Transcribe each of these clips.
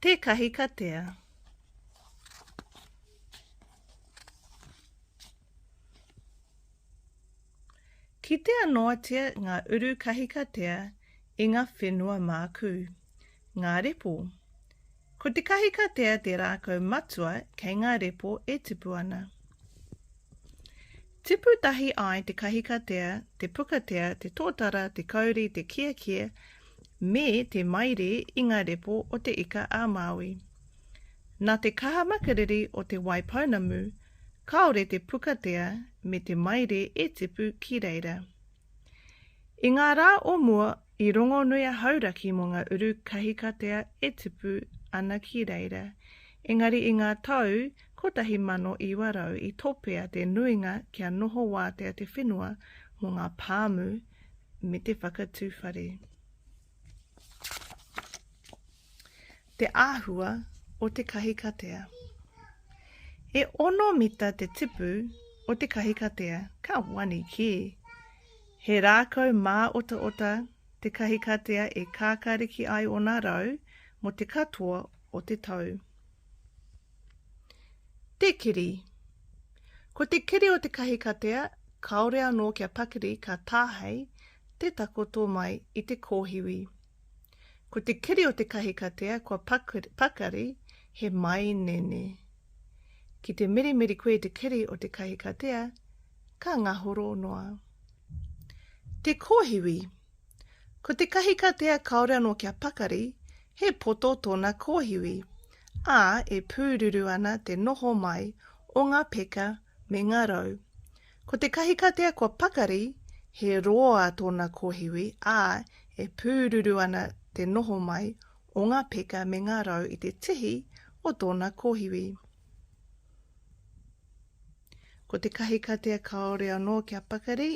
Te Kahikatea. Kitea noatia ngā uru kahikatea i ngā whenua mākū, ngā repo. Ko te kahikatea te rākau matua kei ngā repo e tipu ana. Tipu tahi ai te kahikatea, te pukatea, te tōtara, te kauri, te kiakia, me te maire i ngā repo o Te Ika a Māui. Nā te kaha makariri o Te Wai Pounamu, kāore te pukatea me te maire e tipu ki reira. I ngā rā o mua i rongonui a Hauraki mō ngā uru kahikatea e tipu ana ki reira, engari i ngā tau 1900 i topea te nuinga kia noho wātea te whenua mō ngā pāmu me te whakatū whare. Te āhua o te kahikatea. E ono mita te tipu o te kahikatea, ka wani kē. He rākau mā ota ota te kahikatea e kākāriki ai ona rau mo te katoa o te tau. Te kiri. Ko te kiri o te kahikatea, kāore anō kia pakiri ka tāhei te takoto mai i te kōhiwi. Ko te kiri o te kahikatea kua pakari he mainene. Ki te mirimiri koe i te kiri o te kahikatea, ka ngahoro noa. Te kōhiwi. Ko te kahikatea kāore anō kia pakari, he poto tōna kōhiwi, ā, e pūruru ana te noho mai o ngā peka me ngā rau. Ko te kahikatea kua pakari, he roa tōna kōhiwi, ā, e pūruru ana te noho mai o ngā peka me ngā rau i te tihi o tōna kōhiwi. Ko te kahikatea kāore anō kia pakari,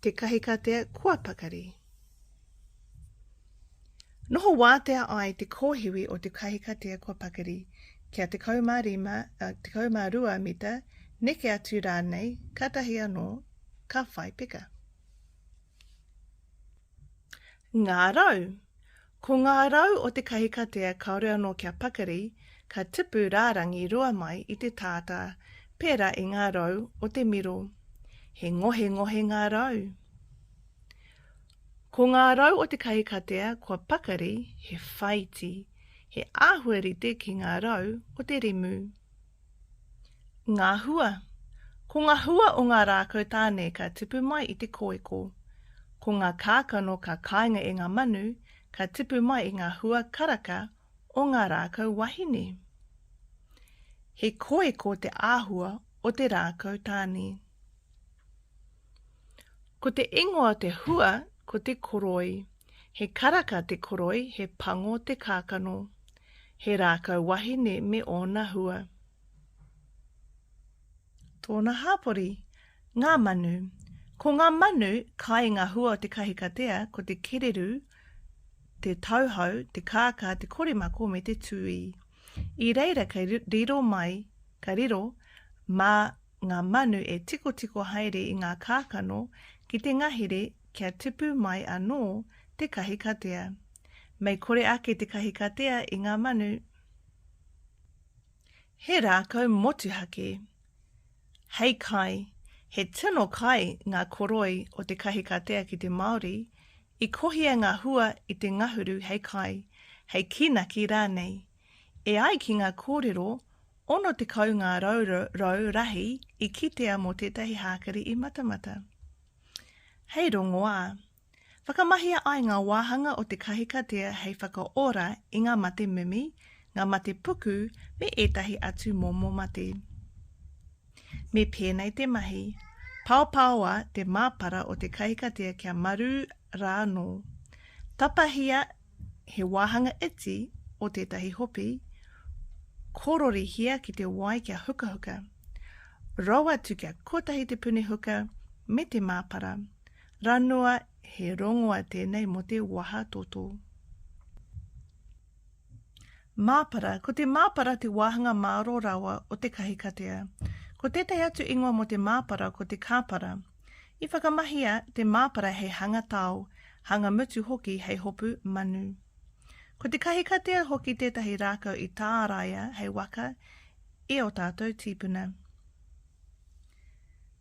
Te Kahikatea kua pakari. Noho wātea ai te kōhiwi o te kahikatea kua pakari, kia 15, 12 mita, neke atu rānei, kātahi anō ka whai peka. Ngā rau. Ko ngā rau o te kahikatea kāore anō kia pakari, ka tipu rārangi rua mai i te tātā, pērā i ngā rau o te miro. He ngohengohe ngā rau. Ko ngā rau o te kahikatea kua pakari he whaiti, he āhua rite ki ngā rau o te rimu. Ngā hua. Ko ngā hua o ngā rākau tāne ka tipu mai i te kōeko. Ko ngā kākano ka kāinga e ngā manu, ka tipu mai i ngā hua karaka o ngā rākau wahine. He kōeko te āhua o te rākau tāne. Ko te ingoa o te hua ko te koroi. He karaka te koroi, he pango te kākano. He rākau wahine me ōna hua. Tōna hāpori, ngā manu. Ko ngā manu, kai i ngā hua o te kahikatea, ko te kererū, te tauhou, te kākā, te koremako me te tūī. I reira kei riro mai, ka riro, mā ngā manu e tikotiko haere i ngā kākano ki te ngahere kia tipu mai anō te kahikatea. Mei kore ake te kahikatea i ngā manu. He rākau motuhake. Hei kai, he tino kai ngā koroi o te kahikatea ki te Māori, i kohia ngā hua i te ngahuru hei kai, hei kīnaki rānei. E ai ki ngā kōrero, 60 ngā rau rahi i kitea mō tētahi hākari i Matamata. Hei rongoā, Whakamahia ai ngā wāhanga o te kahikatea hei whakaora i ngā mate mimi, ngā mate puku me ētahi atu momo mate. Me pēnei te mahi, paopaoa te māpara o te kahikatea kia marū rā anō. Tapahia he wāhanga iti o tētahi hopi, kororihia ki te wai kia hukahuka. Rou atu kia kotahi te puni huka me te māpara. Ranoa he rongoa tēnei mō te waha toto. Māpara, ko te māpara te wāhanga māro rawa o te kahikatea. Ko tētahi atu ingoa mō te māpara ko te kāpara. I whakamahia te māpara hei hanga tao, hanga mutu hoki hei hopu manu. Ko te kahikatea hoki tētahi rākau i tāraia hei waka e ō tātou tīpuna.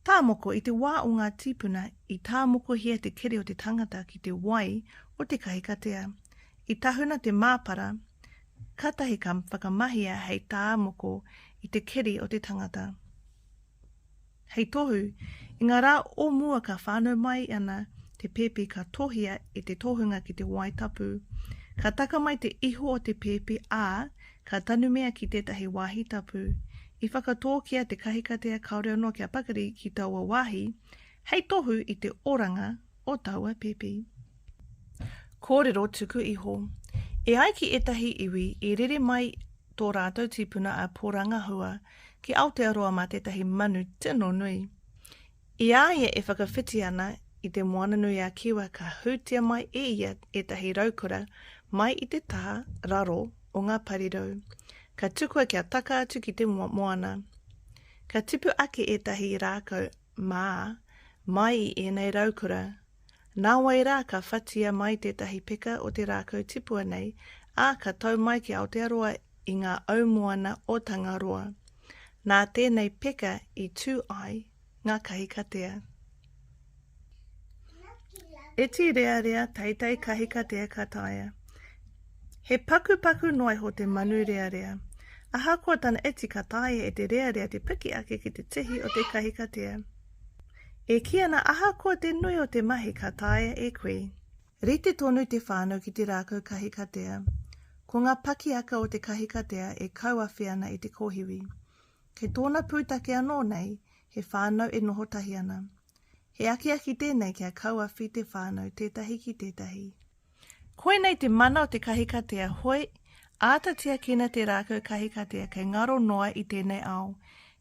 Tāmoko, I te wā o ngā tīpuna, i tāmokohia te kere o te tangata ki te wai o te kahikatea. I tahuna te māpara, kātahi ka whakamahia hei tāmoko i te keri o te tangata. Hei tohu, i ngā rā o mua ka whānau mai ana te pēpi ka tohia e te tohunga ki te wai tapu. Ka taka mai te iho o te pēpi, ā, Ka tanumia ki tētahi wāhi tapu, i whakatōkia te kahikatea kāore anō kia pakari ki taua wāhi hei tohu i te oranga o taua pēpi. Kōrero tuku iho. E ai ki ētahi iwi, i rere mai tō rātou tīpuna a Pōrangahua ki Aotearoa mā tētahi manu tino nui. I a ia e whakawhiti ana i Te Moana-nui-a-Kiwa ka hūtia mai e ia ētahi raukura mai i te taha raro o ngā parirau, ka tukua kia taka atu ki te moana. Ka tipu ake ētahi rākau mā mai i ēnei raukura Nāwai rā ka whatia mai tētahi peka o te rākau tipua nei, ā, ka tau mai ki Aotearoa i ngā aumoana o Tangaroa. Nā tēnei peka i tū ai ngā kahikatea. Iti rearea teitei kahikatea ka taea. He pakupaku noa iho te manu rearea. Ahakoa tana iti ka taea e te rearea te piki ake ki te tihi o te kahikatea. E kī ana ahakoa te nui o te mahi ka taea e koe. Rite tonu te whānau ki te rākau kahikatea. Ko ngā pakiaka o te kahikatea e kauawhi ana i te kōhiwi. Kei tōna pūtake anō nei, he whānau e noho tahi ana. He akiaki tēnei kia kauawhi te whānau tētahi ki tētahi. Koinei te mana o te kahikatea, hoi, āta tiakina te rākau kahikatea kei ngaro noa i tēnei ao.